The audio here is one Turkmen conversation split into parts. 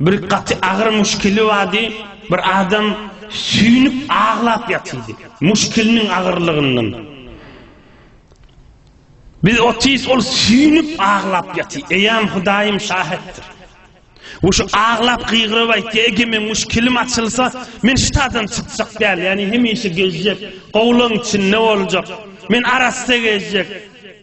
Bir gaty agyr muşkili bardy. Bir adam süýnüp aglap ýatyrdy. Muşkiliniň agyrlygyndan. Biz otys ol süýnüp aglap ýaty. Eýam Hudaýym şahitdir. Bu şu aglap gygyryp aýtdy, ege men muş kilim açylsa, men şu tadan çykjak däl, ýani hemişe gezjek, gowlaň içinde boljak. Men arassa gezjek.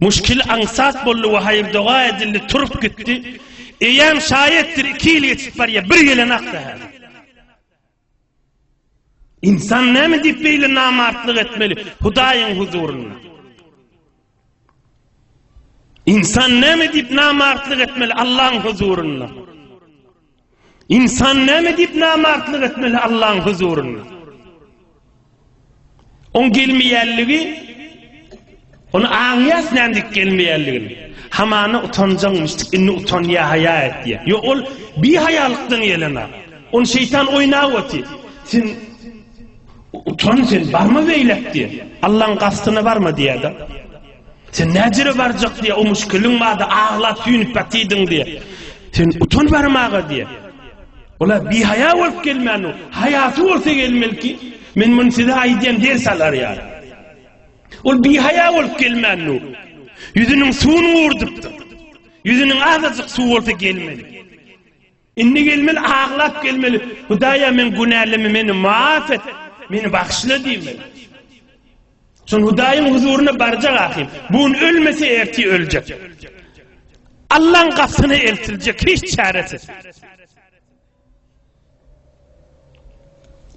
Muşkil aňsat boldy we haýyr doga edildi, turup gitdi. Eýýäm şaýetdir, iki ýyl geçip barýar, bir gelen akda hä. İnsan näme diýip beýle namartlyk etmeli Hudaýyň huzurynda? İnsan näme diýip namartlyk etmeli Allah'ın huzurynda? Insan näme diýip namartlyk etmeli Allaň huzurynda? Oň gelmeýänligi Ony aňýas nädip gelmeýänligini. Hamana utanjaňmyşdyk, indi utanýa haýa et diýýär. Ýok, ol bi haýalykdan gelen ak. Ony şeýtan oýnap oty. Sen utan sen, barma beýläk diýýär. Allaň gastyna barma diýýär-de. Sen näjere barjak diye o müşkiliň barda aglap süýnüp ýatydyň diye. Sen utan barmaga diye. Ola bir haya bolup gelmän o. Hayasy bolsa gelmeli ki. Men bunu size aýdýan ders alar ýaly. Ol bir haya bolup gelmän o. Yüzünün suwuny gurdypdyr. Yüzünün azajyk suw bolsa gelmeli. Indi gelmeli aglap gelmeli Hudaýa men günälimi meni maaf et meni bagyşla diýmeli. Şol Hudaýyň huzuryna barjak ahir. Bu gün ölmese ertir öljek. Allaň gapsyna eltiljek hiç çaresiz.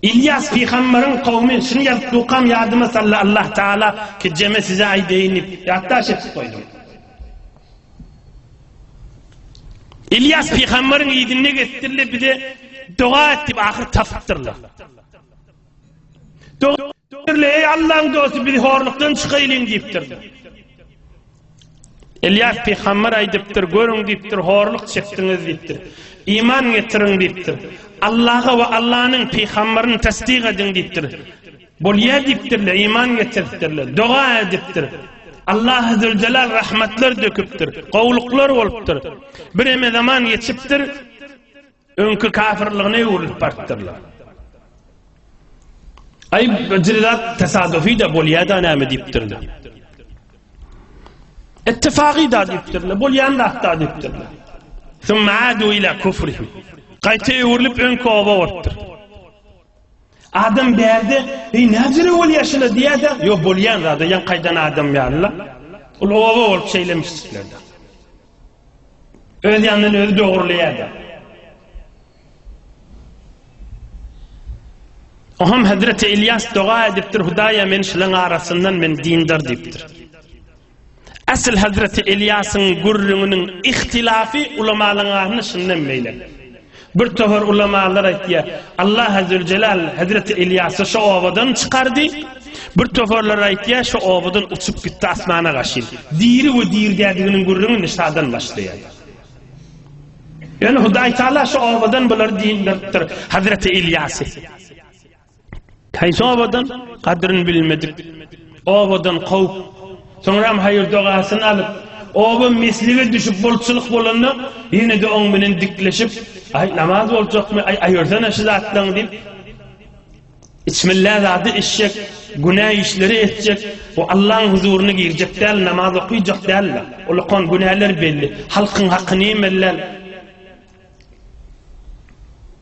Ylýas pygambaryň kowmy şuny ýazypdukam ýadyma saldy Allah Taala, kejeme size aýdaýyn diýip, ýatdaş edip goýdum. Ylýas pygambaryň yzynda gezdirle bize doga et diýip ahyr tapypdyrlar. Doga Dürli, eý Allaň dosty, biz horlukdan çykaýlyň diýipdir. Elýas pygamber aýdypdyr, görüň diýipdir, horluk çekdiňiz diýipdir. Iman getiriň diýipdir. Allaha we Allanyň pygamberini tassyk ediň diýipdir. Bolýar diýipdirler, iman getiripdirler, doga edipdir. Allah azze celal rahmetler döküpdir. Gowluklar bolupdyr. Bir eme zaman geçipdir. Öňki kafirligine öwrülip barypdyrlar. Aý, bir zat tesadufy-da bolýa-da näme diýipdirler. Ittifagy-da diýipdirler, bolýan zat-da diýipdirler. Summa adu ila kufrihim. Gaýta öwrülip öňki oba barypdyr. Adam bärde, "Eý, näzire bolýa şuna?" diýýär-de, "Ýok, bolýan zat, ýa gaýdan adam ýaly-la." Ol oba bolup şeýlemişdirler. Öz ýanyndan özi dogruleýärdi. Oham Hazreti Ilýas doga edipdir, Hudaýa men şulaň arasyndan men dindar diýipdir. Asyl Hazreti Ilýasyň gürrüňiniň ihtilafy ulamalaryň arasynda şundan meýle. Bir tohar ulamalar aýtýar, Allah Azzewjelal hezreti Ylýasy şo obadan çykardy, bir toharlar aýtýar, şo obadan uçup gitdi asmana gaşyn. Diri we dirgädiginiň gürrüňi Nisadan başlaýar. Ýöne Hudaýtagala şo obadan bulary diýdiripdir, hezreti Ylýasy. Haýsy obadan? Gadryny bilmedik obadan kowup, soňram haýyr-dogasyny alyp, oba meslige düşüp bolçulyk bolanda, ýene-de oň bilen dikleşip, Aý, namaz boljakmy, aý, aýyrsana şu zatlaňy diýip, içmillä zady içjek, günä işleri etjek, bu Allaň huzuryna girjek däl, namaz okyjak däl-le. Ol okan günäler belli, halkyň hakyny ýemellän.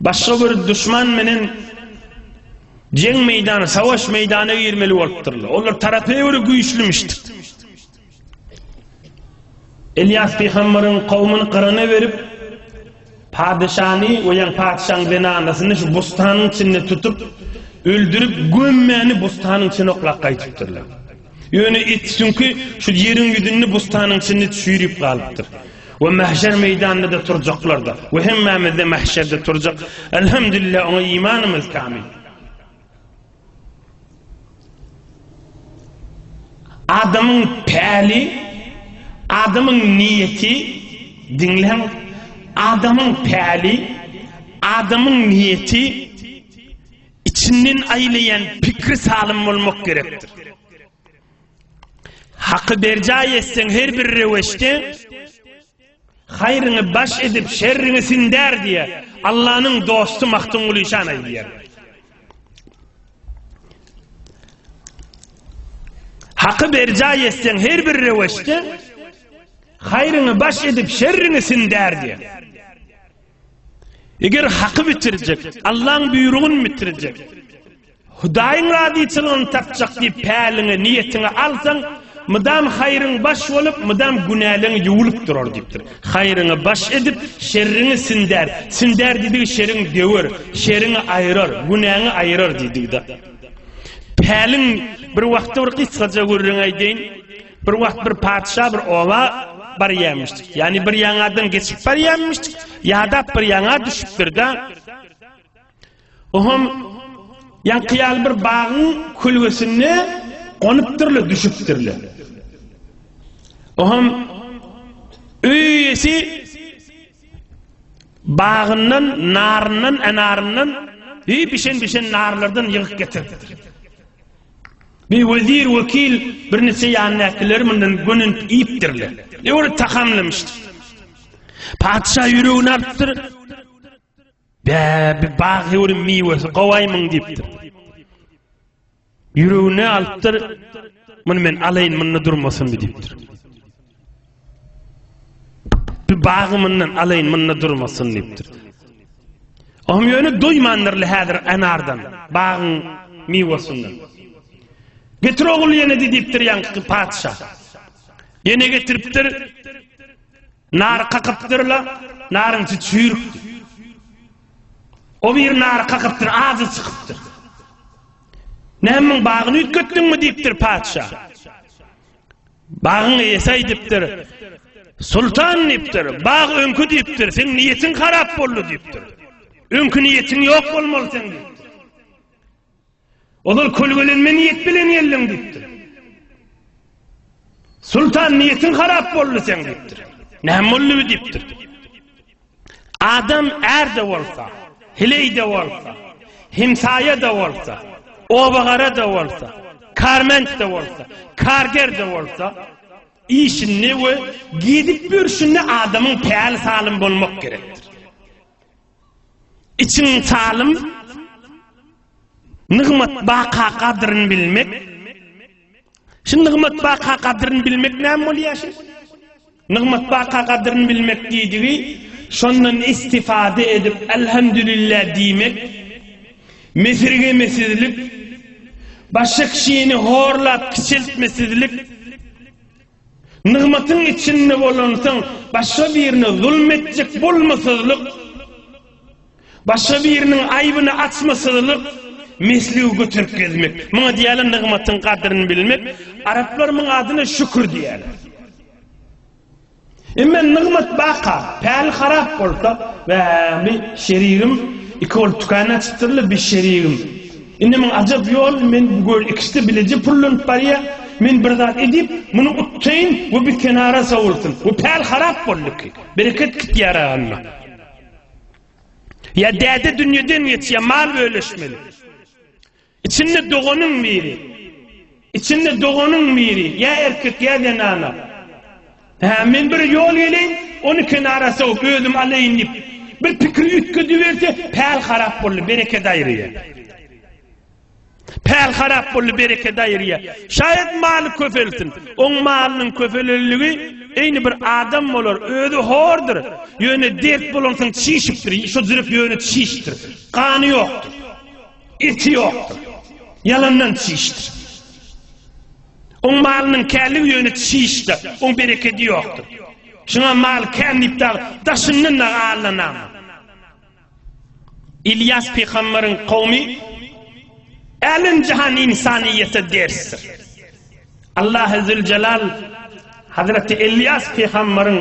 başga bir duşman menen jeň meýdany, savaş meýdany girmeli bolupdyrlar. Olar tarapa göre güýçlümişdir. Elyas pygamberiň kowmuny gyrana berip, padyşany we ýan patyşaň zenanasyny şu bustanyň içinde tutup, öldürip gömmäni bustanyň içine oklap gaýtypdyrlar. Ýöne it süňki şu ýeriň ýüzünde bustanyň içinde çüýrüp galypdyr. We mähşer meýdanynda-da turjaklar-da. We hemmämiz-de mähşerde turjak. Elhamdülillah oňa imanymyz kamyl. Adamyň päli, adamyň niýeti, diňläň, adamyň päli, adamyň niýeti, Içinden aýlaýan pikri salym bolmak gerekdir. Haky berjaý etseň her bir röwüşde haýryňy baş edip şerriňi sindär diýýär. Allanyň dosty Magtymguly Şan aýdýar. Haky berjaý etseň her bir röwüşde haýryňy baş edip şerriňi sindär diýýär. Eger haky bitirjek, Allaň buýrugyny bitirjek, Hudaýyň razyçylygyny tapjak diýip päliňi, niýetiňi alsaň, mydam haýryň baş bolup, mydam günäleň ýuwlup durar diýipdir. Haýryňy baş edip, şerriňi sindär. Sindär diýdigi şeriň döwer, şeriňi aýrar, günäňi aýrar diýdigi-de. Päliň bir wagtda bir gysgaja gürrüň aýdaýyn. Bir wagt bir patyşa bir oba barýarmyşdyk. Ýagny bir ýaňadan geçip barýarmyşdyk, ýadap bir ýaňa düşüpdir-de. Ohum ýaňky ýaly bir bagyň kölgesinde gonupdyrlar, düşüpdirler. Ohum öýesi bagyndan, naryndan, enaryndan, bir bişen-bişen narlardan ýygyp getiripdir. Bir wezir, wekil, birniçe ýanyndakylar mundan gönünip iýipdirler. Ýöne tagamlamışdyr. Patyşa ýüregini alypdyr. Bä, bir bag ýöri miwesi gowaýmyň diýipdir. Ýüregini alypdyr. Muny men alaýyn, munda durmasyn diýipdir. Bagy mundan alaýyn, munda durmasyn diýipdir. Ohm ýöne doýmandyrly häzir anardan, bagyň miwesinden. Getir ogul ýene diýipdir ýaňky patyşa. Ýene getiripdir. Nar kakypdyrla, naryň çüýrük. O bir nar kakypdyr, azy çykypdyr. Näme bagyny üýtgetdiňmi diýipdir patyşa. Bagyň eýesi aýdypdyr, Sultan diýipdir, bag öňki diýipdir, seň niýetiň harap boldy diýipdir. Öňki niýetiň ýok bolmaly seň diýipdir. Ozal kölgelenme niýet bilen geldiň diýipdir. Sultan niýetiň harap boldy seň diýipdir. Näme boldy diýipdir. Adam är-de bolsa, hileý-de bolsa, hemsaýa-da bolsa, obagara-da bolsa, karment-de bolsa, karger-de bolsa, işinde we gezip ýörşünde adamyň päli salym bolmak gerekdir. Içiň salym, nygmat baka gadryny bilmek. Şu nygmat baka gadryny bilmek näme bolýar? Nygmatbaka gadyryny bilmek diýdigi, şondan istifada edip Elhamdülillah diýmek, mesirgemesizlik, başga kişini horlap kiçeltmesizlik, nygmatyň içinde bolansoň başga birine zulum etjek bolmasyzlyk, Başga biriniň aýbyny açma sygylyk, mesligi göterip gezmek. Muňa diýýärler nygmatyň gadryny bilmek. Araplar muň adyna şükür diýýärler. Emma nygmat baka, päli harap bolsa, Wäh, bir şerigim, iki bolup tükän açypdyrlar, bir şerigim. Indi muň ajap ýoly, men bu göl ikisi-de bileje pullanyp barýa, men bir zat edip, muny utdaýyn we bir kenara sowulsyn. Bu päl harap boldy ki, bereket gitýär agynda. Ya däde dünyeden geçya mal bölüşmeli. İçinde doganyn biri. İçinde doganyn biri. Ya erkek ya zenana. Ha men bir yol geleyin onu kenara soğup özüm aleyin deyip. Bir pikri ütkü düverse pal harap bolli bereket ayrıya. Päl harap boldy, bereket aýyrýar. Şaýat maly köpelsin. Oň malynyň köpeleliligi eýni bir adam bolar, özi hordur. Ýöne dert bolansoň çişipdir, şo zürüp ýöne çişipdir. Gany ýokdur. Eti ýokdur. Ýalandan çişipdir. Oň malynyň källigi ýöne çişdi, oň berekedi ýokdur. Şuňa mal kän diýip daşyndan da allanam. Ylýas pygamberiň kowmy älemjahan ynsanyýete dersdir. Allahy Züljelal Hazreti Ylýas pygamberiň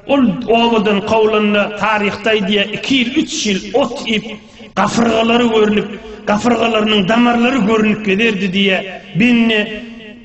ol obadan kowlanda taryhda aýdýar iki ýyl üç ýyl ot iýip gafyrgalary görnüp gafyrgalarynyň damarlary görnüp gezerdi diýýär. Bende